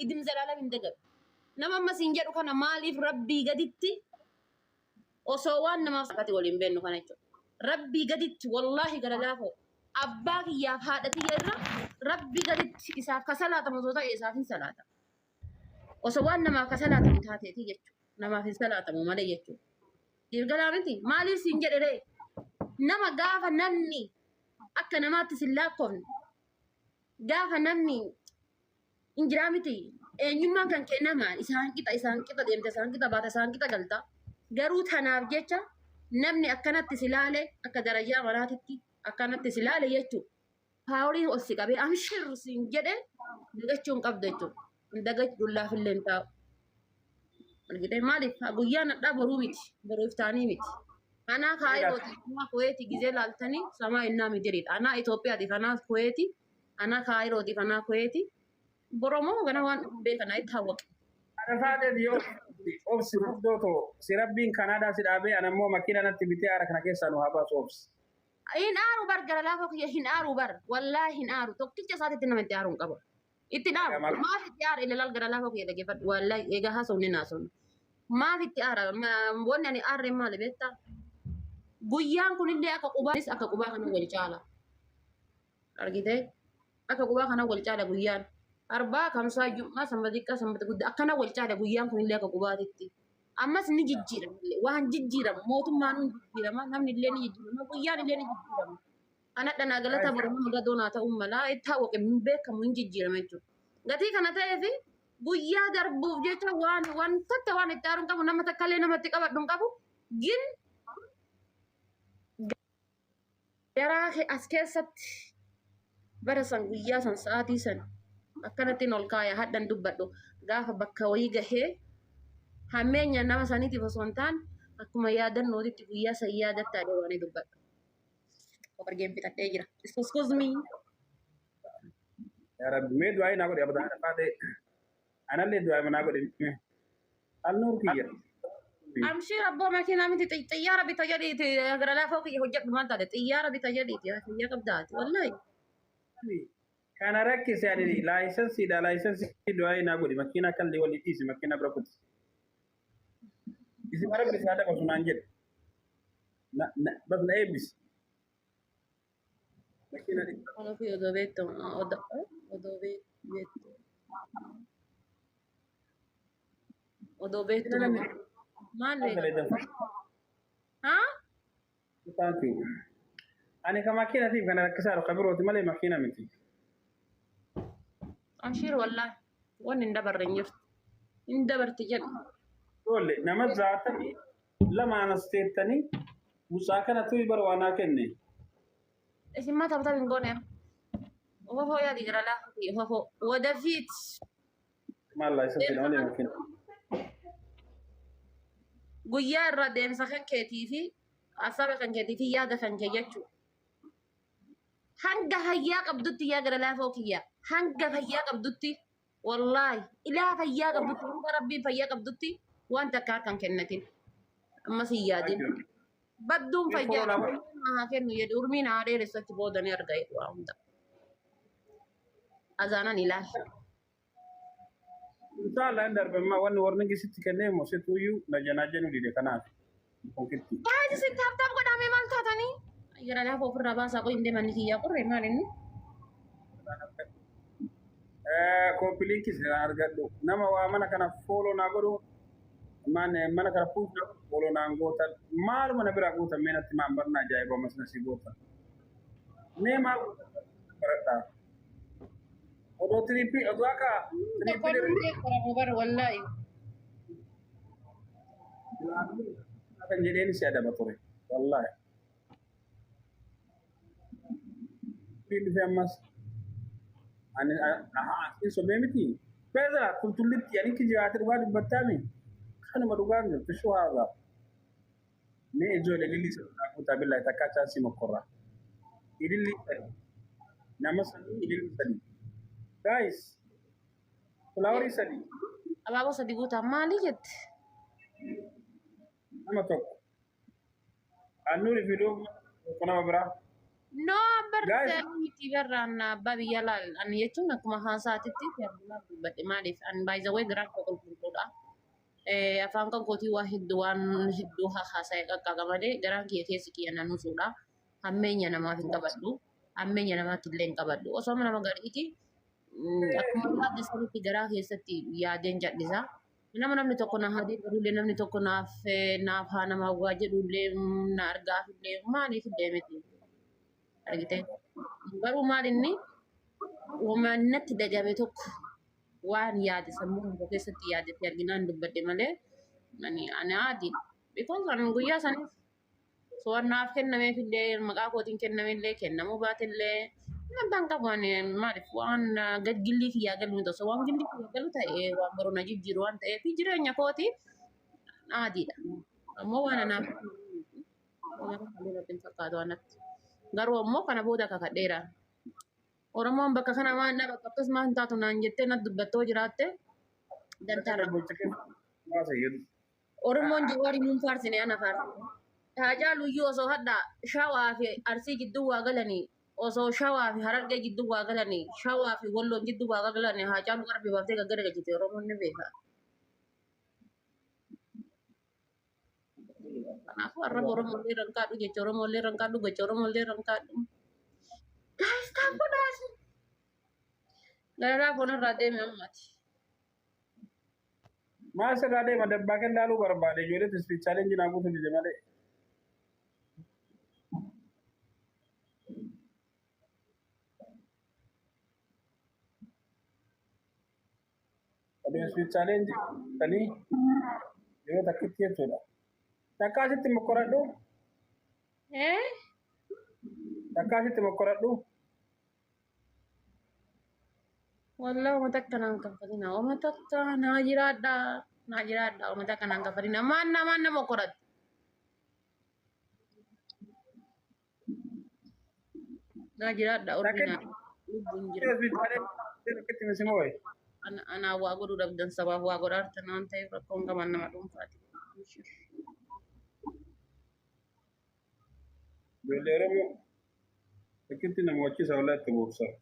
idil zalaalam hin dagatu nama amma siin jedhu kana maaliif rabbii gaditti osoo waan namaaf sakati waliin beennu kana jechuudha rabbii gaditti wallaahi gara laafoo abbaa kiyyaaf haadha tiyya irra rabbii gaditti isaaf ka salaatamu osoo ta'e isaaf hin salaata osoo waan namaaf ka salaatamu taateeti jechuudha namaaf hin salaatamu malee jechuudha dirgalaa miti maaliif siin jedhe ree nama gaafa namni akka namaatti sin laakkoofne gaafa namni hin jiraa miti eenyummaan kan kee nama isaan qixa isaan qixa deemta isaan qixa baata isaan qixa galta garuu tanaaf jecha namni akkanatti si laale akka darajaa manaatitti akkanatti si laale jechuudha. Paawuliin ol si qabee amshir siin jedhe dagachuu hin qabdu jechuudha. hin dagachu dullaaf illee hin taa'u. Argitee maaliif haa guyyaa nadhaa boruu miti boruu iftaanii miti. Anaa kaayirooti anaa kuweeti gizee laaltanii samaa innaa midiriidha. Anaa Itoophiyaatiif anaa kuweeti anaa kaayirootiif anaa kuweeti boromoo gana waan dhufu beekana itti hawwaqe. Arafaateef yoo obsi mufdoo too si rabbiin kanaadaa si dhaabee ana immoo makiina natti bitee aara kana keessaa nu haa baasu obsi. Hin aaru bar gara laafoo kiyya hin aaru bar wallaahi hin aaru tokkicha isaatitti nama itti aaruun qaba. Itti dhaabu. Maal- Maaf itti aara ilalaal gara laafoo kee dhaggeeffadhu. Wallahi egaa haasofne hin haasofne. Maaf itti aara? Ma- Wanni ani aarre maali beektaa? Guyyaan kunillee akka qubaanis akka qubaa kana wal caala. Argitee? Akka qubaa kana wal caala guyyaan. Arbaa, kamsaa, jum'aa, sanbata xiqqaa, sanbata guddaa akkana wal caala guyyaan kunillee akka qubaatitti. Ammas ni jijjiirama. Waan jijjiirama. Mootummaan ni jijjiirama. Namni illee ni jijjiirama. Guyyaan illee ni jijjiirama. Anadha naa galata boru nama gadoo naa ta'uu mala itti hawwaqe hin beekamu hin jijjiirame jechuudha. Gatii kana ta'ee fi guyyaa darbuuf jecha waan waan takka waan itti aaruun qabu nama takka illee namatti qabadhu hin qabu gin garaa kee as keessatti bara san guyyaa san sa'aatii san akkanattiin ol kaaya hadhan dubbadhu gaafa bakka wayii gahee hammeenya nama saniitiif osoo hin taane akkuma yaadannootitti guyyaa san yaadattaadha waan dubbadhu. Wargeen bitadhee jira. Excuse me. Yaa Rabbi mee du'aa naa godhi abadaa dhaqaa ta'e. Anallee du'aa naa godhi. Alnuur kiyya. Amshiir abboo makiinaa miti xi- xiyyaara bita jedhiiti gara laafoo kiyya hojjedhu maal taate xiyyaara bita jedhiiti fayyaa qabdaati wallahi. Kana rakkise ani laayisansiidha laayisansii du'aa naa godhi makiinaa kan liwal dhiisi makiinaa bira kutti. Isin Rabbi isaa dabasu naan jedhe. Na, na, bas na eebbisi. Bakkee na dhibba. Kan ofii odoo beektu odoo odoo bee- beektu odoo beektu Sila namni maal kan beektu fayyadamu. haa Thank you. Ani kan makiinatiif kana rakkisaa jiru kan birooti malee makiina miti. ashiir wallaahi waan hin dabarre hin jirtu hin dabarti jedhu Ijoollee nama zaatamii Lama anas teettanii mucaa kana tuyi bara waan naa kenne. Isin maa taphataa hin goone? Ofofoo yaadi jira laa. Ofofoo. Wadafiit. Maal laa isa jedhama deema kenna. Guyyaa irraa deemsa kan keetii fi hasaaba kan keetii fi yaada kan kee jechuu. Hanga hayyaa qabdutti yaa gara laafoo kiyya. Hanga fayyaa qabdutti. Wallaahi ilaa fayyaa qabdutti hanga rabbiin fayyaa qabdutti waan takka akka hin kennatin. Ammas hin yaadin. Badduun Ni fayyaa foolama. Rabbiin haa kennu jedhu urmiin haa dheeressu achi booda ni arga jedhu waa hunda. Azaanan ilaali. Inshallah hin darbe amma wanni warnigi sitti kennee moo situ iyyuu na janaa jenuu dide kanaaf. Poketti. Gaayis isin taaptaap godhamee maal taatanii? Jira lafa ofirraa baasaa qoyi hin deemanni kiyyaa qorre maal inni? Kooppiliinkis argadhu. Nama waa mana kana fooloo naa godhu. Man mana kana fuuldura fooloo naan gootan. Maaluma na biraa gootan mee natti maan barna ajaa'iba ammas na si gootan. Mee maal gootan baradhaa. Odoo tiriippii odoo akka Tokkoon tiriippii hundee qoramu bara wallaahi. kan jedheen si adaba ture wallaahi Ittiin dhufe ammas ani asiin sobee miti beeza tultullitti ani kijibaati dhugaa dubbattaami kanuma dhugaa hin jirtu shuu haadha mee ijoollee lilli sirraa kutaa billaa takkaa chaansii mokkorraa ililli nama sadii ililli sadii guys Fulaawarii sadii. Abaaboo sadii guutaa maalii jette? Nama tokko. Aannuuniif midhoo tokko nama biraa. No abbar Guys. seeruu miti barraan abbaa biyya laal ani jechuun akkuma haasaatitti seerummaa dubbadhe maaliif ani baay'ee garaa koo qulqulluudha. Eh, Afaan kan kootii waa hedduu waan hedduu haa haasa'e qaqqaqa malee garaan kiyya keessi kiyya na nusuudha. Hammeenya namaaf hin qabadhu. Hammeenya namaatti illee hin qabadhu. Osoo nama gariiti Akkuma yaadde sanitti garaa keessatti yaadeen jal'isa. Nama namni tokko na haa deeggarullee namni tokko naaf eh, naaf haa nama waa jedhullee mm, na argaafillee maaliif illee miti. Argite? Garuu maal inni waan natti dhagame tokko waan yaade sammuu tokko keessatti yaadatti arginaan dubbadde malee ani ani aadi. Because ani guyyaa saniif To'annaaf kennameef illee maqaa kootiin kenname illee kennamuu baate illee amantaan qabu ani maaliif waan gilgillii kiyyaa galu miti osoo waan gilgillii kiyyaa galu ta'e waan baruu na jijjiiru waan ta'eef jireenya kooti adiidha. Ammoo waan anaaf waan halluu natti hin fakkaatu waan natti. Garuu ammoo kana booda kakadheera. Oromoon bakka kana waan dha bakka akkas maan taatu naan jettee natti dubbattoo jiraatte dantaa irra bulcha. Maasa jedhu. Oromoon Jawaari nuun faarsine ana faarse. Haacaalu iyyuu osoo hadhaa Shawaa fi Arsii jidduu waa galanii osoo Shawaa fi Harargee jidduu waa galanii Shawaa fi Walloon jidduu waa galanii Haacaalu qarbii baaftee gaggara galchite Oromoon ni beeka. Kanaafuu arraba Oromoo illee irra hin kaadhu jecha Oromoo illee irra hin kaadhu gocha Oromoo illee irra hin kaadhu. Daayistaan godhaasi. Gararaa foonarraa deeme ammati. Maal sirraa deema dabbaa kee laaluu barbaade ijoollee tisfi challenge naa guutuu dide malee. Adeemsi challenge tanii yeroo takkitti jechuudha. Takkaa sitti mokkoradhu Eh? takkaa sitti mokkoradhu. Wallah uummata akkanaan kaffalina. Uummata akkanaa naa jiraadhaa. Naa jiraadhaa uummata akkanaan kaffalina. Maan namaan nama qoratti. Naa jiraadhaa urbii Rakkina. naa. Lubbuun jira. Rakkatti misima wayi. Ana- Anaa waa godhuu dhabdan sabaaf waa godhaa jirtan waan ta'eef rakkoon qaban nama dhuunfaati. Ijoollee Oromoo akkitti na mo'achiisa walaa itti boobsaa.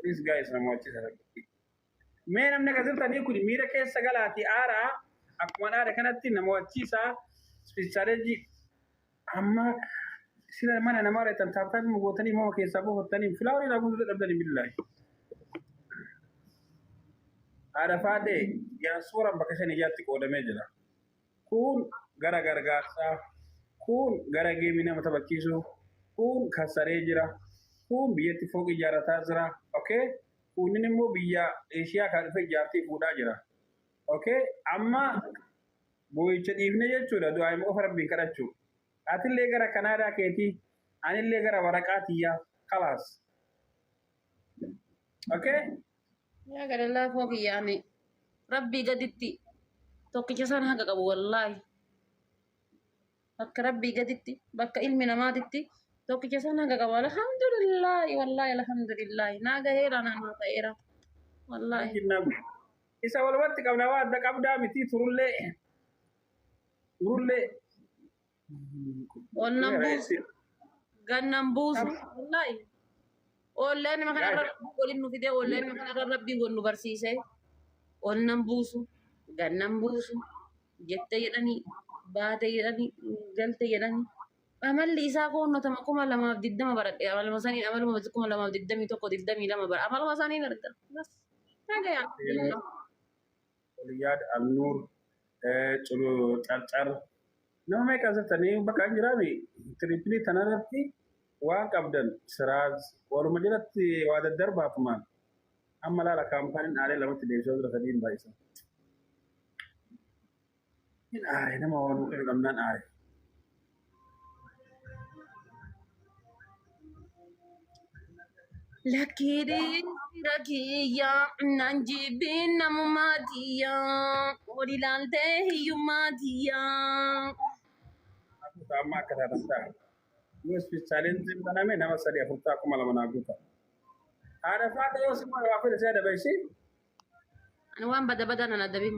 Please guys na mo'achiisa rakkitti. Mee namni akka jirtanii kun miira keessa galaatii aaraa akkuma dhaada kanatti na mo'achiisa ispistaateejii Amma sila mana namaa dheettan taaptaabii ma gootanii mama keessaa buufattanii filaawar irraa guutuu dadhabdanii billaahi. Haadha faadhee diyaaspooraan bakka shan ijaatti qoodamee jira. Kun gara gargaarsaa, kun gara geemii nama taphachiisuu, kun kassaree jira, kun biyyatti fooqii ijaarrataa jira. Okay? Kunnin immoo biyya Eeshiyaa kaa dhufee ijaartee fuudhaa jira. Okay? Amma Boo'icha dhiifne jechuudha du'aa'ima qofa Rabbiin kadhachuu. Atillee gara Kanaadaa keetii, anillee gara waraqaa tiyyaa. Kalaas. Okay? Yaa gadallaa koo kiyya ani rabbii gaditti tokkicha isaan haqa qabu wallaahi. Bakka rabbii gaditti bakka ilmi namaatitti tokkicha isaan haqa qabu alhamdulillaahi wallaahi alhamdulillaahi naa gaheera naa naa ta'eera wallaahi. Jinnaa guddaa. Isa walumatti qabna waa adda qabdaa mitii turullee. Turullee. Onnan buusu. Gannan buusu. Wallaahi. Oolleen nama kana irra rabbii waliin nu fidee oolleen nama kana irra rabbii wal nu barsiisee. Onnan buusu. Gannan buusu. Jette jedhanii. Baate jedhanii. Galte jedhanii. Amalli isaa koonnotama kuma lamaaf digdama baradhe. Amaluma saniin amaluma kuma lamaaf digdamii tokko digdamii lama bara. Amaluma saniin arga. Bas. Oliyaad Alnuur Carcar nama meeqa asirtanii bakka hin jiraame tiriippilii tanarratti waan qabdan siraaz waluma jalatti waa daddarbaa kumaan amma laala kaampaaniin aalee lamatti deebisee jira sadiin baay'isan. Hin aare nama waan waaqayyo qabnaan aare. Lakkiidhee rakiyyaa naan jibbee namummaa tiyyaa ol ilaaltee hiyyummaa tiyyaa. Akkuma amma akka taatan ta'a. Yoo ispeech chaalenjiin baname nama sadii afur ta'a kuma lama naa guuta. Haadha faata yoo si moo'e waa fedhe si adaba ishee. Ani waan bada badaa nan adabin.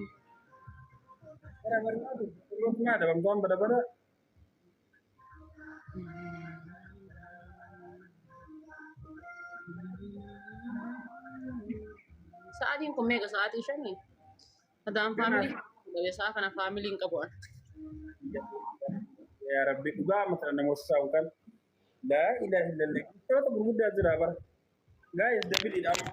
Bara barnaa tu kulloo sinaa dabamtu waan bada bada. Sa'aatiin kun meeqa sa'aatii shanii? Adaan faamilii qabe sa'a kana faamilii hin qabu ani. Yaa Rabbi dhugaa amma kana namoota saa'u kan. Laa ilaaha illallah. Kitaabota gurguddaa jira bara. Gaa'is dabiliidha amma.